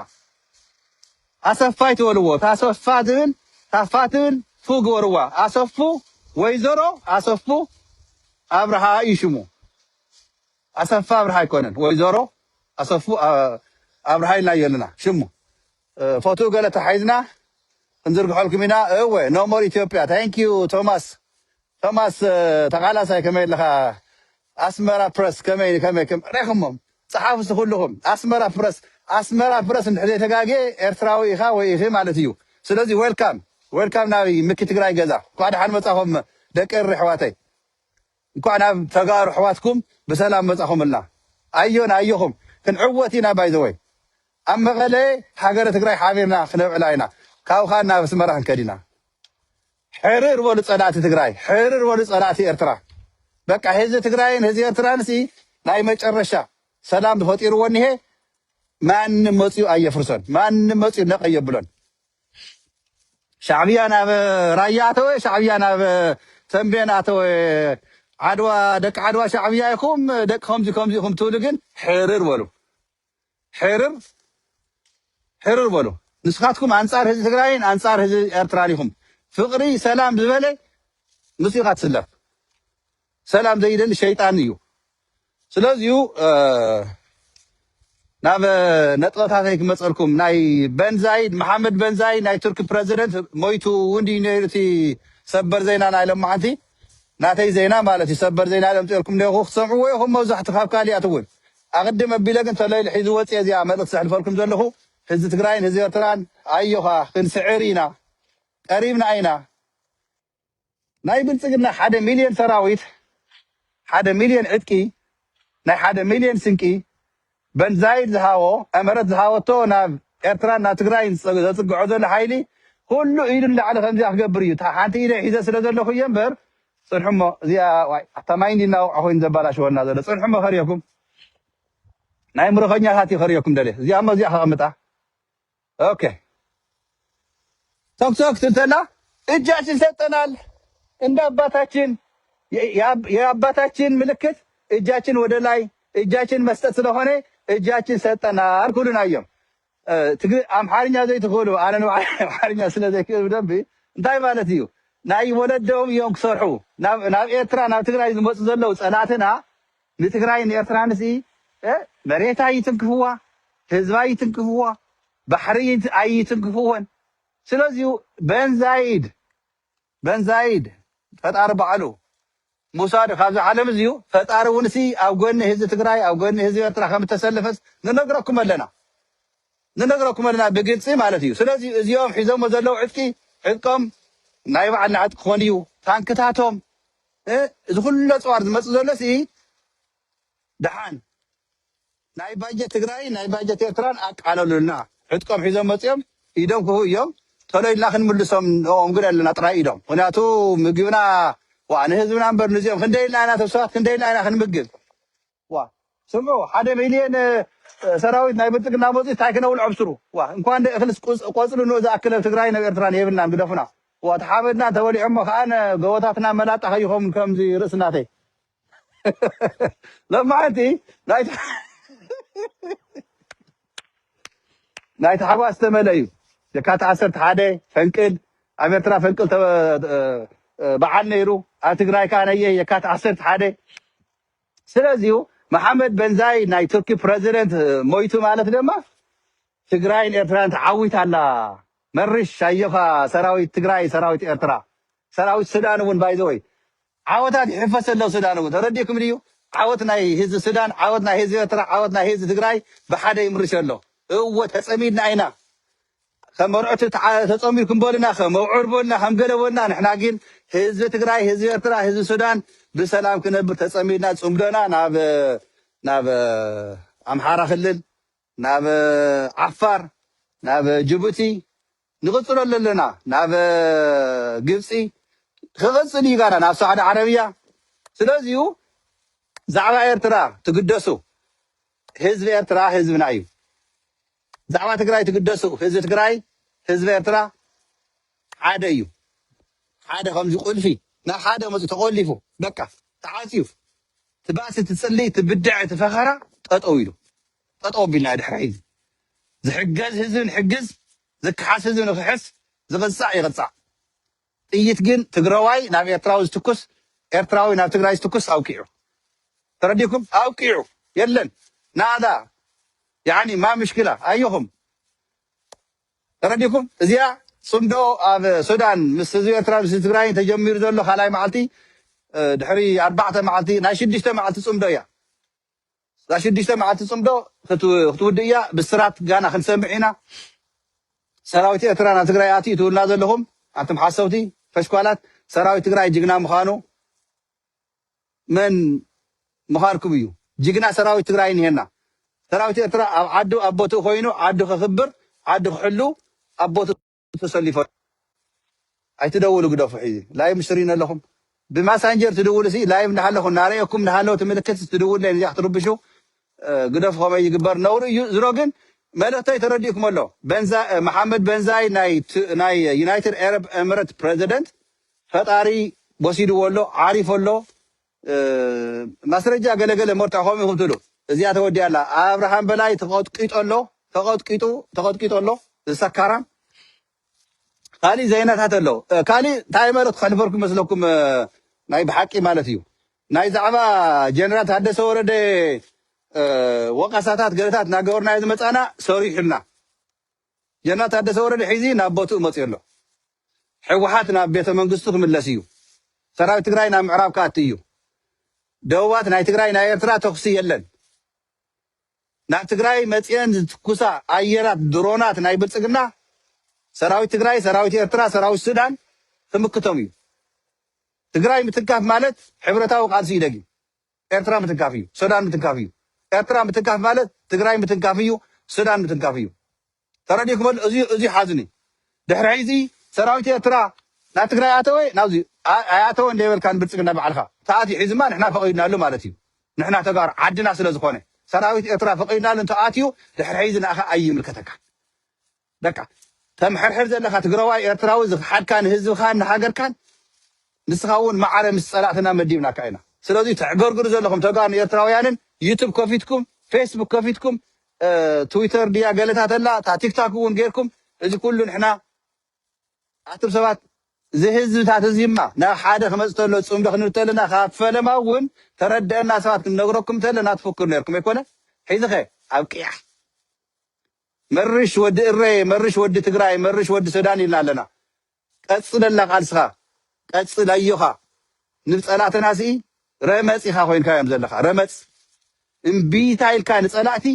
ኣሰፋ ኣይትበልዎ ታሰፋ ትብል ታፋ ትብል ፉ ግበርዋ ኣሰፉ ወይዘሮ ኣሰፉ ኣብርሃ እዩ ሽሙ ኣሰፋ ኣብርሃ ኣይኮነን ወይዘሮ ኣሰፉ ኣ- ኣብርሃ ኢልናዮ ኣለና ሽሙ ፎቶ ገለ ተሓሒዝና ክንዝርግሐልኩም ኢና እወ ኖ ሞር ኢትዮጵያ ታንክ ዩ ቶማስ ቶማስ ተቃላሳይ ከመይ ኣለኻ ኣስመራ ፕረስ ከመይ ከመይ ከም ሪኹሞም ጸሓፉ እስቲ ኩልኹም ኣስመራ ፕረስ ኣስመራ ፕረስ እንድሕር ዘይተጋግየ ኤርትራዊ ኢኻ ወይ ኢኺ ማለት እዩ ስለዚ ዌልካም ዌልካም ናብ ምኪ ትግራይ ገዛ እንኳዕ ደሓን መጻኹም ደቂ እሪ ኣሕዋተይ እንኳዕ ናብ ተጋሩ ኣሕዋትኩም ብሰላም መፃኹምልና ኣዮና ኣዮኹም ክንዕወት ኢና ባይ ዘ ወይ ኣብ መቐለ ሃገረ ትግራይ ሓቢርና ክነብዕላ ኢና ካብኻ ናብ ኣስመራ ክንከድ ኢና ሕርር በሉ ፀላእቲ ትግራይ ሕርር በሉ ፀላእቲ ኤርትራ በቃ ህዝቢ ትግራይን ህዝቢ ኤርትራን ሲ ናይ መጨረሻ ሰላም ፈጢርዎ እኒሀ ማንም መፅኡ ኣየፍርሶን ማንም መፅኡ ነቐ የብሎን ሻዕብያ ናብ ራያ ኣተወ ሻዕብያ ናብ ተምቤን ኣተወ ዓድዋ ደቂ ዓድዋ ሻዕብያ ኢኹም ደቂ ከምዚ ከምዚ ኢኹም ትብሉ ግን ሕርር በሉ ሕርር ሕርር በሉ ንስኻትኩም ኣንጻር ህዝቢ ትግራይን ኣንጻር ህዝቢ ኤርትራን ኢኹም ፍቕሪ ሰላም ዝበለ ምስ ኢኻ ትስለፍ ሰላም ዘይደሊ ሸይጣን እዩ ስለዚዩ ናብ ነጥበታተይ ክመፀልኩም ናይ በንዛይ መሓመድ በንዛይ ናይ ቱርኪ ፕረዚደንት ሞይቱ እውን ድዩ ነይሩ እቲ ሰበር ዜና ናይ ለማዓንቲ ናተይ ዜና ማለት እዩ ሰበር ዜና ዘምፅኤልኩም ኔኹ ክትሰምዕዎ ኢኹም መብዛሕቱ ካብ ካሊኣት እውን ኣቕድም ኣቢለ ግን ተለይሉ ሒዚ ወፅኤ እዚኣ መልእኽቲ ዘሕልፈልኩም ዘለኹ ህዝቢ ትግራይን ህዝቢ ኤርትራን ኣዮኻ ክንስዕር ኢና ቀሪብና ኢና ናይ ብልጽግና ሓደ ሚልዮን ሰራዊት፣ ሓደ ሚልዮን ዕጥቂ፣ ናይ ሓደ ሚልዮን ስንቂ፣ በንዛይድ ዝሃቦ፣ እመረት ዝሃበቶ ናብ ኤርትራን ናብ ትግራይን ዘጽግዖ ዘሎ ሓይሊ ኩሉ ኢዱ ንላዕሊ ከምዚኣ ክገብር እዩ። እታ ሓንቲ ኢደይ ሒዘ ስለ ዘለኹ እየ እምበር ጽንሑሞ እዚኣ ዋይ ኣታ ማይ እንዲ እናወቕዐ ኮይኑ ዘባላሽወልና ዘሎ ጽንሑሞ ከርእየኩም ናይ ምርኾኛታት እዩ ከርእየኩም ደልየ እዚኣሞ እዚኣ ከቐምጣ ኦኬ ተኩስ ተኩስ እንተላ እጃችን ሰጠናል እንደ አባታችን የ- የአብ- የአባታችን ምልክት እጃችን ወደ ላይ እጃችን መስጠት ስለሆነ እጃችን ሰጠናል ኩሉን አየም እ፣ ትግሪ- አምሓርኛ ዘይትኽእሉ አነ ንባዕለይ አምሓርኛ ስለ ዘይክእል ብደንቢ እንታይ ማለት እዩ ናይ ወለዶም እዮም ክሰርሑ ናብ ናብ ኤርትራ ናብ ትግራይ ዝመፁ ዘለው ፀላእትና ንትግራይን ኤርትራንስ እእ መሬት ኣይትንክፍዋ ህዝቢ ኣይትንክፍዋ ባሕሪ ኣይትንክፍወን ስለዚ በንዛይድ በንዛይድ ፈጣሪ ባዕሉ ምውሳዱ ካብዚ ዓለም እዚዩ ፈጣሪ ውንሲ ኣብ ጎኒ ህዝቢ ትግራይ ኣብ ጎኒ ህዝቢ ኤርትራ ከም እተሰለፈስ ንነግረኩም ኣለና ንነግረኩም ኣለና ብግልፂ ማለት እዩ ስለዚ እዚኦም ሒዞሞ ዘለዉ ዕጥቂ ዕጥቆም ናይ ባዕልና ዕጥቂ ክኾን እዩ ታንክታቶም እ እዚ ኩሉ ኣጽዋር ዝመጽእ ዘሎ ሲ ደሓን ናይ ባጀት ትግራይን ናይ ባጀት ኤርትራን ኣቃለሉልና ዕጥቆም ሒዞም መጽዮም ኢዶም ክህቡ እዮም ቶሎ ኢልና ክንምልሶም ንኦም ግን ኣለና ጥራይ ኢሎም ምክንያቱ ምግብና ዋእ ንህዝብና እምበር ንዚኦም ክንደይ ኢልና ኢና ተስፋት ክንደይ ኢልና ኢና ክንምግብ ዋእ ስምዑ ሓደ ሚልየን ሰራዊት ናይ ብልፅግና መፂኡ ታይ ክነብል ዐብስሩ ዋእ እንኳን ዶ እኽልስ ቁፅ ቆፅሊ ን እዛ ኣክል ኣብ ትግራይን ኣብ ኤርትራን የብልናን ግደፉና ዋእ ተሓመድና ተበሊዖሞ ከኣነ ገወታትና መላጣ ከይኾም ከምዚ ርእሲ ናተይ ለማዓንቲ ናይ ናይ ታሕጓስ ዝተመልአ እዩ የካቲ ዓሰርተ ሓደ ፈንቅል ኣብ ኤርትራ ፈንቅል ተ- እ- በዓል ነይሩ ኣብ ትግራይ ከዓ ነየ የካቲ ዓሰርተ ሓደ ስለዚዩ መሓመድ በንዛይ ናይ ቱርኪ ፕረዚደንት ሞይቱ ማለት ደማ ትግራይን ኤርትራን ተዓዊታ ኣላ መርሽ ኣዮኻ ሰራዊት ትግራይ ሰራዊት ኤርትራ ሰራዊት ሱዳን እውን ባይዘወይ ዓወታት ይሕፈስ ኣሎ ሱዳን እውን ተረዲእኩም ድዩ ዓወት ናይ ህዝቢ ሱዳን ዓወት ናይ ህዝቢ ኤርትራ ዓወት ናይ ህዝቢ ትግራይ ብሓደ ይምርሽ ኣሎ እወ ተጸሚድና ኢና ከም መርዑት ተጸንቢርኩም በሉና ከም ኣብዑር በሉና ከም ገለ በሉና ንሕና ግን ህዝቢ ትግራይ ህዝቢ ኤርትራ ህዝቢ ሱዳን ብሰላም ክነብር ተጸሚድና ጽምዶና ናብ ናብ ኣምሓራ ክልል ናብ ዓፋር ናብ ጅቡቲ ንቕጽሎ ኣለና ናብ ግብጺ ክቕጽል እዩ ጋና ናብ ሳዕዲ ዓረብያ ስለዚዩ ዛዕባ ኤርትራ ትግደሱ ህዝቢ ኤርትራ ህዝብና እዩ ብዛዕባ ትግራይ ትግደሱ ህዝቢ ትግራይ ህዝቢ ኤርትራ ሓደ እዩ ሓደ ከምዚ ቁልፊ ናብ ሓደ መፁ ተቆሊፉ በቃ ተዓፅዩ ትባእሲ ትፅልይ ትብድዐ ትፈኸራ ጠጠው ኢሉ ጠጠው ኣቢልና ድሕሪ ሕዚ ዝሕገዝ ህዝቢ ንሕግዝ ዝከሓስ ህዝቢ ንክሕስ ዝቕፃዕ ይቕፃዕ ጥይት ግን ትግራዋይ ናብ ኤርትራዊ ዝትኩስ ኤርትራዊ ናብ ትግራይ ዝትኩስ ኣብቂዑ ተረዲኩም ኣብቂዑ የለን ናእዳ ያኒ ማ ምሽክላ ኣየኹም ተረዲኩም እዚኣ ጽምዶ ኣብ ሱዳን ምስ ህዝቢ ኤርትራ ምስ ትግራይን ተጀሚሩ ዘሎ ካልኣይ መዓልቲ ድሕሪ ኣርባዕተ መዓልቲ ናይ ሽዱሽተ መዓልቲ ጽምዶ እያ እዛ ሽዱሽተ መዓልቲ ጽምዶ ክትውድእ እያ ብስራት ጋና ክንሰምዕ ኢና ሰራዊት ኤርትራ ናብ ትግራይ ኣትዩ ትብሉና ዘለኹም ኣንቱም ሓሰውቲ ፈሽኳላት ሰራዊት ትግራይ ጅግና ምዃኑ መን ምዃርኩም እዩ ጅግና ሰራዊት ትግራይ እንሄና ሰራዊት ኤርትራ ኣብ ዓዱ ኣብ ቦትኡ ኮይኑ ዓዱ ከኽብር ዓዱ ክሕሉ ኣብ ቦትኡ ተሰሊፎ ኣሎ ኣይትደውሉ ግደፉ ሕዚ ላይቭ ምስ ትሪኡኒ ኣለኹም ብማሳንጀር ትድውሉ ሲ ላይቭ እንዳሃለኹ እናረኤኩም እንዳሃለወ እቲ ምልክት ትድውሉለይ ነዚኣ ክትርብሹ ግደፉ ከመይ ይግበር ነውሪ እዩ ዝሮ ግን መልእክተይ ተረዲእኩም ኣሎ መሓመድ በንዛይ ናይ ዩናይትድ ኤረብ ኤምረት ፕረዚደንት ፈጣሪ ወሲድዎ ኣሎ ዓሪፉ ኣሎ ማስረጃ ገለ ገለ መርትዖ ከምኡ ኢኩም ትብሉ እዚኣ ተወዲኣ ኣላ ኣብርሃም በላይ ተቀጥቂጡ ኣሎ ተቀጥቂጡ ተቀጥቂጡ ኣሎ እዚ ሰካራም ካሊእ ዘይናታት ኣሎ ካሊእ እንታይ መልእክቲ ከሕልፈልኩም መስለኩም ናይ ብሓቂ ማለት እዩ ናይ ዛዕባ ጀነራል ታደሰ ወረደ ወቀሳታት ገለታት እናገበርናዮ ዝመፃና ሰሪሑልና ጀነራል ታደሰ ወረደ ሕዚ ናብ ቦትኡ መፅዩ ኣሎ። ሕወሓት ናብ ቤተ መንግስቱ ክምለስ እዩ። ሰራዊት ትግራይ ናብ ምዕራብ ክኣቲ እዩ። ደቡባት ናይ ትግራይ ናይ ኤርትራ ተኹሲ የለን። ናብ ትግራይ መፅየን ዝትኩሳ ኣየራት ድሮናት ናይ ብልፅግና ሰራዊት ትግራይ፣ ሰራዊት ኤርትራ፣ ሰራዊት ሱዳን ክምክቶም እዩ። ትግራይ ምትካፍ ማለት ሕብረታዊ ቃልሲ እዩ ደጊም። ኤርትራ ምትንካፍ እዩ ሱዳን ምትንካፍ እዩ ኤርትራ ምትንካፍ ማለት ትግራይ ምትንካፍ እዩ ሱዳን ምትንካፍ እዩ ተረዲእኩም ኣሎ እዚ እዚ ሓዝኒ ድሕሪ ሕዚ ሰራዊት ኤርትራ ናብ ትግራይ ኣተወ ናብዚ ኣይኣተወ እንደይበልካ ንብልፅግና ባዕልካ ተኣትዩ ሕዝማ ንሕና ፈቒድናሉ ማለት እዩ ንሕና ተጋሩ ዓድና ስለ ዝኾነ ሰራዊት ኤርትራ ፈቒድናሉ እንተኣትዩ ድሕሪ ሕዚ ንኣኻ ኣይምልከተካ በቃ ተምሕርሕር ዘለካ ትግራዋይ ኤርትራዊ ዝክሓድካ ንህዝብካን ንሃገርካን ንስካ እውን ማዕረ ምስ ፀላእትና መዲብናካ ኢና ስለዚ ተዕገርግሩ ዘለኩም ተጋሩን ኤርትራውያንን ዩቱብ ከፊትኩም ፌስቡክ ከፊትኩም ትዊተር ድያ ገለታት ኣላ እታ ቲክታክ እውን ጌርኩም እዚ ኩሉ ንሕና ኣቱም ሰባት እዚ ህዝብታት እዚማ ናብ ሓደ ክመፅ ተሎ ፅምዶ ክንብል ተለና ካብ ፈለማ እውን ተረድአና ሰባት ክንነግረኩም ተለና ትፍክሩ ነርኩም ኣይኮነ ሒዝኸ ኣብ ቅያሕ መርሽ ወዲ እረየ መርሽ ወዲ ትግራይ መርሽ ወዲ ሰዳን ኢልና ኣለና ቀፅለላ ቃልስኻ ቀፅል ኣዮኻ ንብፀላእተና ስኢ ረመፅ ኢኻ ኮይንካዮም ዘለኻ ረመፅ እምቢታ ኢልካ ንፀላእቲ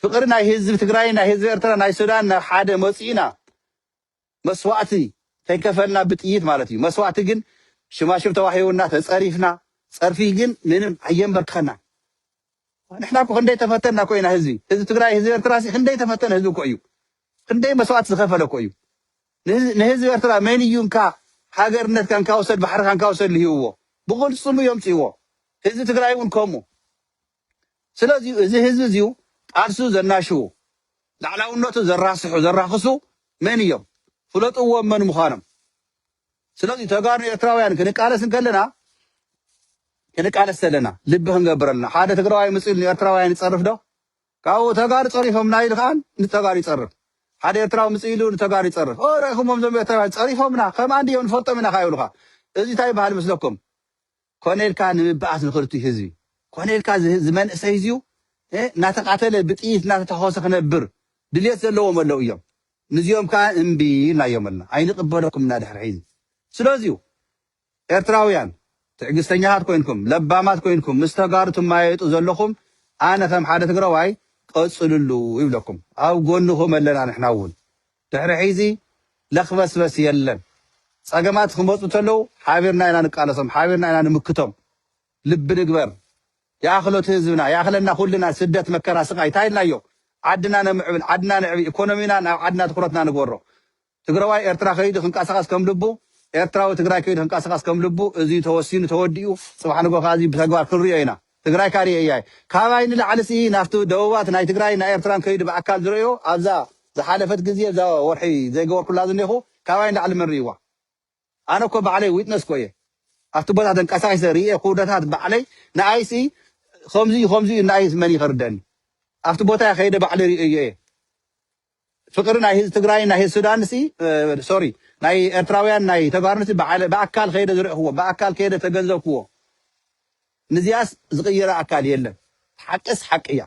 ፍቅሪ ናይ ህዝቢ ትግራይን ናይ ህዝቢ ኤርትራ ናይ ሱዳን ናብ ሓደ መፁኢና መስዋእቲ ከይከፈልና ብጥይት ማለት እዩ መስዋእቲ ግን ሽማሽም ተዋሂቡና ተፀሪፍና ፀርፊ ግን ምንም ኣየምበርከኸናን ንሕና እኮ ክንደይ ተፈተና እኮ ኢና ህዝቢ ህዝቢ ትግራይ ህዝቢ ኤርትራ ሲ ክንደይ ተፈተነ ህዝቢ እኮ እዩ ክንደይ መስዋእቲ ዝኸፈለ እኮ እዩ ንህዝ- ንህዝቢ ኤርትራ መን እዩ እንካ ሃገርነትካ እንካ ውሰድ ባሕርካ እንካ ውሰድ ልሂብዎ ብቕልፅሙ እዮም ፅዎ ህዝቢ ትግራይ እውን ከምኡ ስለዚዩ እዚ ህዝቢ እዚዩ ቃልሱ ዘናሽዉ ላዕላውነቱ ዘራስሑ ዘራኽሱ መን እዮም ፍለጥዎም መን ምዃኖም ስለዚዩ ተጋሩ ኤርትራውያን ክንቃለስ እንከለና ክንቃለስ ዘለና ልቢ ክንገብር ኣለና ሓደ ትግራዋይ ምጽ ኢሉ ንኤርትራውያን ይጸርፍ ዶ ካብኡ ተጋሩ ጸሪፎምና ኢሉ ከዓ ንተጋሩ ይጸርፍ ሓደ ኤርትራዊ ምጽ ኢሉ ንተጋሩ ይጸርፍ ኦ ርኢኹሞም ዞም ኤርትራውያን ጸሪፎምና ከም ኣንድዮም ንፈልጦም ኢና ከዓ ይብሉኻ እዚ እንታይ ይበሃል መስለኩም ኮነ ኢልካ ንምብኣስ ንክርትዩ ህዝቢ ኮነ ኢልካ እዚ መንእሰይ እዚዩ እናተቃተለ ብጥይት እናተታኮሰ ክነብር ድልየት ዘለዎም ኣለው እዮም ንዚኦም ከኣ እምቢ ኢልናዮም ኣልና ኣይንቅበለኩም እና ድሕሪ ሕዚ ስለዚዩ ኤርትራውያን ትዕግስተኛታት ኮይንኩም ለባማት ኮይንኩም ምስ ተጋሩ ትማየጡ ዘለኹም ኣነ ከም ሓደ ትግራዋይ ቀጽልሉ ይብለኩም ኣብ ጎንኹም ኣለና ንሕና ውን ድሕሪ ሕይዚ ለክበስበስ የለን ፀገማት ክመፁ ተለው ሓቢርና ኢና ንቃለሶም ሓቢርና ኢና ንምክቶም ልቢ ንግበር ይኣክሎ እቲ ህዝብና ይኣክለና ኩልና ስደት መከራ ስቃይ ታይ ኢልናዮ ዓድና ነምዕብል ዓድና ነዕቢ ኢኮኖሚና ናብ ዓድና ትኩረትና ንግበሮ ትግረዋይ ኤርትራ ከይዱ ክንቃሳቀስ ከም ልቡ ኤርትራዊ ትግራይ ከይዱ ክንቃሳቀስ ከም ልቡ እዙይ ተወሲኑ ተወዲኡ ፅባሕ ንግሆ ካዓ እዙይ ብተግባር ክንሪኦ ኢና። ትግራይካ ሪኤያ'የ ካባይ ንላዕሊ ሲ ናብቲ ደቡባት ናይ ትግራይን ናይ ኤርትራን ከይዱ ብኣካል ዝረእዮ ኣብዛ ዝሓለፈት ግዜ እዛ ወርሒ ዘይገበርኩላ ዝኔኹ ካባይ ንላዕሊ መን ሪእዋ ኣነ እኮ ባዕለይ ዊትነስ እኮ እየ ኣብቲ ቦታ ተንቀሳቂሰ ሪኤ ኩውደታት ባዕለይ ንኣይ ሲ ኸምዚ እዩ ኸምዚ እዩ ንኣይ መን እዩ ከርደእኒ ኣብቲ ቦታ ከይደ ባዕለይ ሪኤዮ እየ ፍቅሪ ናይ ህዚ ትግራይን ናይ ህዚ ሱዳን ሲ ሶሪ ናይ ኤርትራውያን ናይ ተጋሩን ሲ ባዕለ ብኣካል ከይደ ዝረእክዎ ብኣካል ከይደ ተገንዘብክዎ ንዚኣስ ዝቅይራ ኣካል የለን ሓቅስ ሓቂ እያ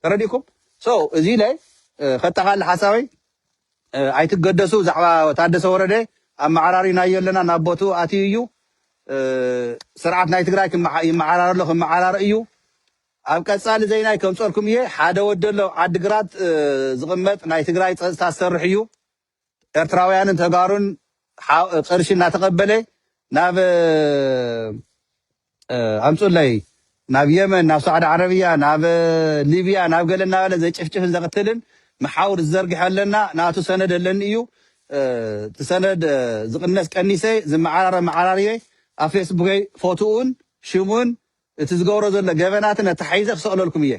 ተረዲእኩም ሶ እዚ ኢለ ከጠቃልል ሓሳበይ ኣይትገደሱ ብዛዕባ ታደሰ ወረደ ኣመዓራሪናዮ ኣለና ናብ ቦትኡ ኣትዩ እዩ ስርዓት ናይ ትግራይ ይመዓራረሎ ክመዓራረ እዩ ኣብ ቀጻሊ ዘይናይ ከምጸልኩም እየ ሓደ ወዲ ኣሎ ኣብ ዓዲ ግራት ዝቅመጥ ናይ ትግራይ ጸጽታ ዝሰርሕ እዩ ኤርትራውያንን ተጋሩን ቅርሺ እናተቀበለ ናብ ኣምጹለይ ናብ የመን ናብ ሳዕዲ ዓረብያ ናብ ሊብያ ናብ ገለ እናበለ ዘጭፍጭፍን ዘቅትልን መሓውር ዝዘርግሐ ኣለና ናቱ ሰነድ ኣለኒ እዩ እቲ ሰነድ ዝቅነስ ቀኒሰ ዝመዓራረ መዓራርየ ኣብ ፌስቡከይ ፎትኡን ሽሙን እቲ ዝገብሮ ዘሎ ገበናትን ኣተሓሒዘ ክሰቅለልኩም እየ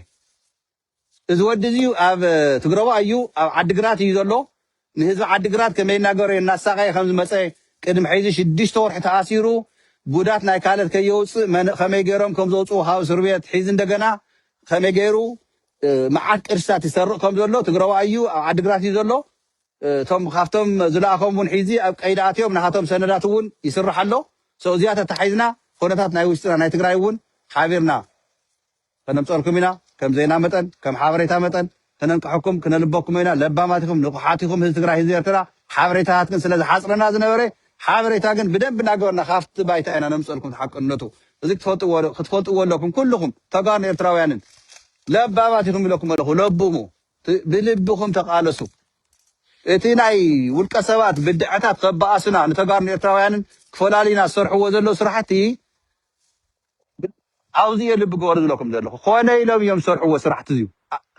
እዚ ወዲ እዚ ኣብ ትግረቦ ኣዩ ኣብ ዓዲ ግራት እዩ ዘሎ ንህዝቢ ዓዲ ግራት ከመይ እናገበረ እናሳቀየ ከም ዝመጸ ቅድሚ ሕዚ ሽዱሽተ ወርሒ ተኣሲሩ ጉዳት ናይ ካልት ከየውጽእ መን ከመይ ገሮም ከም ዘውጽዎ ካብ እስርቤት ሕዚ እንደገና ከመይ ገሩ መዓት ቅርስታት ይሰርቅ ከም ዘሎ ትግረዋይ እዩ ኣብ ዓዲ ግራት እዩ ዘሎ እቶም ካብቶም ዝለኣኾም እውን ሒዚ ኣብ ቀይዲ ኣትዮም ናሃቶም ሰነዳት እውን ይስራሕ ኣሎ so እዚኣ ተታሒዝና ኾነታት ናይ ውሽጥና ናይ ትግራይ እውን ሓቢርና ከነምፀእልኩም ኢና ከም ዜና መጠን ከም ሓበሬታ መጠን ክነንቅሐኩም ክነልበኩም ኢና ለባማት ኢኹም ንቁሓት ኢኹም ህዝቢ ትግራይ ህዝቢ ኤርትራ ሓበሬታታት ግን ስለ ዝሓፅረና ዝነበረ ሓበሬታ ግን ብደንቢ እናገበርና ካብቲ ባይታ ኢና ነምፀእልኩም ተሓቅነቱ እዚ ክትፈልጥዎ ክትፈልጥዎ ኣለኩም ኩልኹም ተጋሩን ኤርትራውያንን ለባማት ኢኹም ኢለኩም ኣለኹ ለብሙ ብልብኹም ተቓለሱ። እቲ ናይ ውልቀ ሰባት ብድዐታት ከበኣሱና ንተጋሩን ኤርትራውያንን ክፈላልዩና ዝሰርሕዎ ዘለዉ ስራሕቲ ኣብዚ እየ ልቢ ግበሩ ዝብለኩም ዘለኹ። ኮነ ኢሎም እዮም ዝሰርሕዎ ስራሕቲ እዚዩ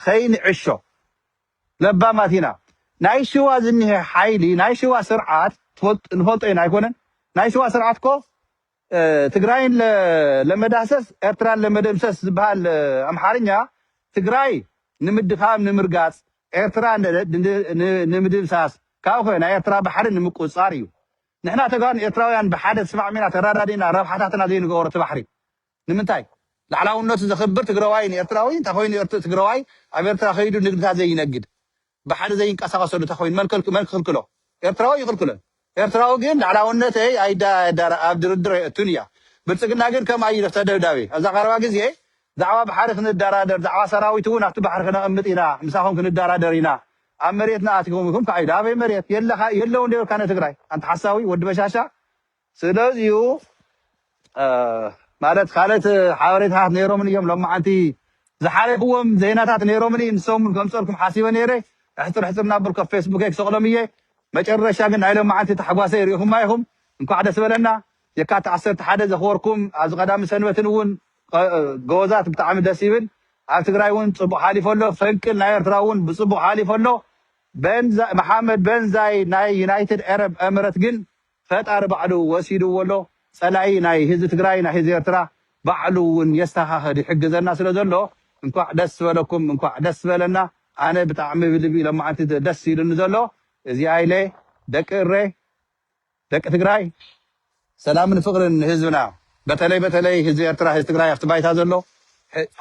ከይንዕሾ ለባማት ኢና። ናይ ሽዋ ዝኒሀ ሓይሊ ናይ ሽዋ ስርዓት ንፈልጦ ኢና ኣይኮነን ናይ ሽዋ ስርዓት እኮ ትግራይን ለመዳሰስ ኤርትራን ለመደምሰስ ዝብሃል ኣምሓርኛ ትግራይ ንምድኻም ንምርጋፅ ኤርትራ ንምድምሳስ ካብኡኸ ናይ ኤርትራ ባሕሪ ንምቁፅፃር እዩ ንሕና ተጋሩን ኤርትራውያን ብሓደ ተስማዕሚና ተራዳዲእና ረብሓታትና ዘይንገበሮ እቲ ባሕሪ ንምንታይ ላዕላውነቱ ዘኽብር ትግራዋይን ኤርትራዊን እንተኾይኑ ትግራዋይ ኣብ ኤርትራ ከይዱ ንግድታት ዘይነግድ ባሕሪ ዘይንቀሳቀሰሉ ተኮይኑ መን ክክልክሎ ኤርትራዊ ኣይክልክሎን ኤርትራዊ ግን ላዕላውነተይ ኣይዳረ ኣብ ድርድር ኣይእቱን እያ ብልጽግና ግን ከም ኣዩ ተደብዳቤ ኣብዛ ቀረባ ግዜ ዛዕባ ባሕሪ ክንዳራደር ዛዕባ ሰራዊት ውን ኣብቲ ባሕሪ ክነቅምጥ ኢና ምሳኩም ክንዳራደር ኢና ኣብ መሬትና ኣቲኩም ኢኩም ካኣ ኢሉ ኣበይ መሬት የለካ የለውን ዶ ይብልካ ንትግራይ ኣንታ ሓሳዊ ወዲ በሻሻ ስለዚዩ ማለት ካልኦት ሓበሬታታት ነይሮምኒ እዮም ሎማዓንቲ ዝሓለፍዎም ዜናታት ነይሮምኒ ንሶም ከምፀልኩም ሓሲበ ነይረ ኣሕፅር ኣሕፅር እናበልኩ ኣብ ፌስቡከይ ክሰቅሎም እየ መጨረሻ ግን ናይ ሎማዓንቲ ታሕጓሰይ ሪኢኹማ ኢኹም እንኳዕ ደስ በለና የካቲት ዓሰርተ ሓደ ዘኽበርኩም ኣብዚ ቀዳምን ሰንበትን እውን ጎበዛት ብጣዕሚ ደስ ይብል ኣብ ትግራይ እውን ፅቡቅ ሓሊፎ ኣሎ ፈንቅል ናይ ኤርትራ እውን ብፅቡቅ ሓሊፎ ኣሎ መሓመድ በንዛይ ናይ ዩናይትድ ኤረብ ኤምረት ግን ፈጣሪ ባዕሉ ወሲድዎ ኣሎ ፀላኢ ናይ ህዝቢ ትግራይ ናይ ህዝቢ ኤርትራ ባዕሉ እውን የስተካክል ይሕግዘና ስለ ዘሎ እንኳዕ ደስ በለኩም እንኳዕ ደስ በለና ኣነ ብጣዕሚ ብልቢ ሎማዓንቲ ደስ ኢሉኒ ዘሎ እዚኣ ኢለ ደቂ እሬ ደቂ ትግራይ ሰላምን ፍቅርን ንህዝብና በተለይ በተለይ ህዝቢ ኤርትራ ህዝቢ ትግራይ ኣብቲ ባይታ ዘሎ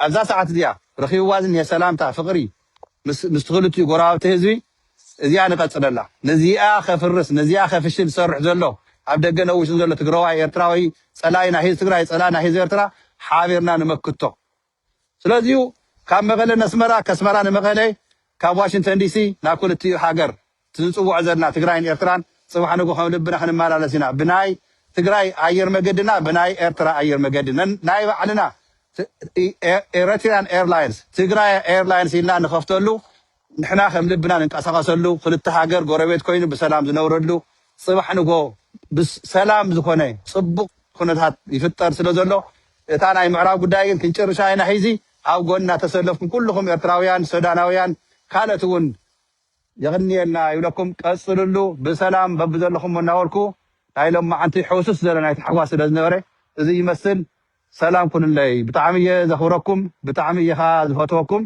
ኣብዛ ሰዓት እዚኣ ረኪብዋ ዝኒሀ ሰላምታ ፍቅሪ ምስ ምስ ክልቲኡ ጎረባብቲ ህዝቢ እዚኣ ንቀፅለላ ነዚኣ ከፍርስ ነዚኣ ከፍሽል ዝሰርሕ ዘሎ ኣብ ደገ ነውሽን ዘሎ ትግረዋይ ኤርትራዊ ፀላኢ ናይ ህዝ ትግራይ ፀላኢ ናይ ህዝ ኤርትራ ሓቢርና ንመክቶ ስለዚዩ ካብ መቀለ ነስመራ ከስመራ ንመቀለ ካብ ዋሽንተን ዲሲ ናብ ክልቲኡ ሃገር ትንፅውዖ ዘለና ትግራይን ኤርትራን ፅባሕ ንጉ ከም ልብና ክንመላለስ ኢና ብናይ ትግራይ ኣየር መገድና ብናይ ኤርትራ ኣየር መገዲ ነናይ ባዕልና ኤረትሪያን ኤርላይንስ ትግራያ ኤርላይንስ ኢልና ንከፍተሉ ንሕና ከም ልብና ንንቀሳቀሰሉ ክልተ ሃገር ጎረቤት ኮይኑ ብሰላም ዝነብረሉ ጽባሕ ንግሆ ብስ ሰላም ዝኮነ ጽቡቅ ኩነታት ይፍጠር ስለ ዘሎ እታ ናይ ምዕራብ ጉዳይ ግን ክንጭርሻ ኢና ሒዚ ኣብ ጎንና ተሰለፍኩም ኩሉኩም ኤርትራውያን ሶዳናውያን ካልእት ውን የቅንየልና ይብለኩም ቀጽልሉ ብሰላም በብዘለኩሞ እናበልኩ ናይ ሎማዓንቲ ሕውስስ ዝበለ ናይ ታሕጓስ ስለ ዝነበረ እዚ ይመስል ሰላም ኩኑለይ ብጣዕሚ እየ ዘክብረኩም ብጣዕሚ እየ ከኣ ዝፈትወኩም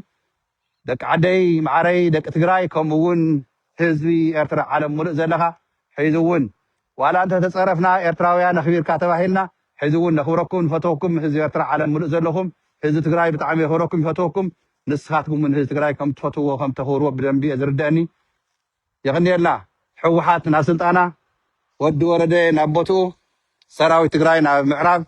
ደቂ ዓደይ ማዓረይ ደቂ ትግራይ ከምኡ ውን ህዝቢ ኤርትራ ዓለም ሙሉእ ዘለኻ ሕዚ ውን ዋላ እንተ ተጸረፍና ኤርትራውያን ኣኽቢርካ ተባሂልና ሕዚ ውን ነኽብረኩም ንፈትወኩም ህዝቢ ኤርትራ ዓለም ሙሉእ ዘለኹም ህዝቢ ትግራይ ብጣዕሚ የኽብረኩም ይፈትወኩም ንስኻትኩም ውን ህዝቢ ትግራይ ከም ትፈትውዎ ከም ተኽብርዎ ብደንቢ እየ ዝርደእኒ የቅንየልና ሕውሓት ናብ ስልጣና ወዲ ወረደ ናብ ቦትኡ ሰራዊት ትግራይ ናብ ምዕራብ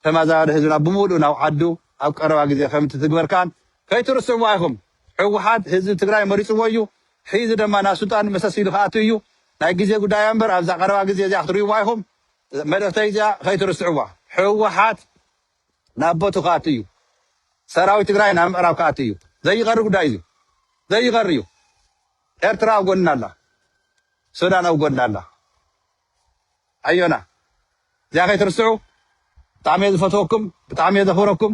ተማዛባሊ ህዝብና ብሙሉኡ ናብ ዓዱ ኣብ ቀረባ ግዜ ከምትትግበር ከኣ ከይትርስዕዋ ኢኩም ሕውሓት ህዝቢ ትግራይ መሪጽዎ እዩ ሒዚ ደማ ናብ ስልጣን መሰስ ኢሉ ክኣቱ እዩ ናይ ግዜ ጉዳይ እያ እምበር ኣብዛ ቀረባ ግዜ እዚኣ ክትሪእዋ ኢኩም መልእክተይ እዚኣ ከይትርስዕዋ ሕውሓት ናብ ቦቱ ክኣቱ እዩ ሰራዊት ትግራይ ናብ ምዕራብ ክኣቱ እዩ ዘይቀሪ ጉዳይ እዩ ዘይቀሪ እዩ ኤርትራ ኣብ ጎንና ኣላ ሱዳን ኣብ ጎንና ኣላ ኣዮና እዚኣ ከይትርስዑ ብጣዕሚ እየ ዝፈትወኩም ብጣዕሚ እየ ዘክብረኩም።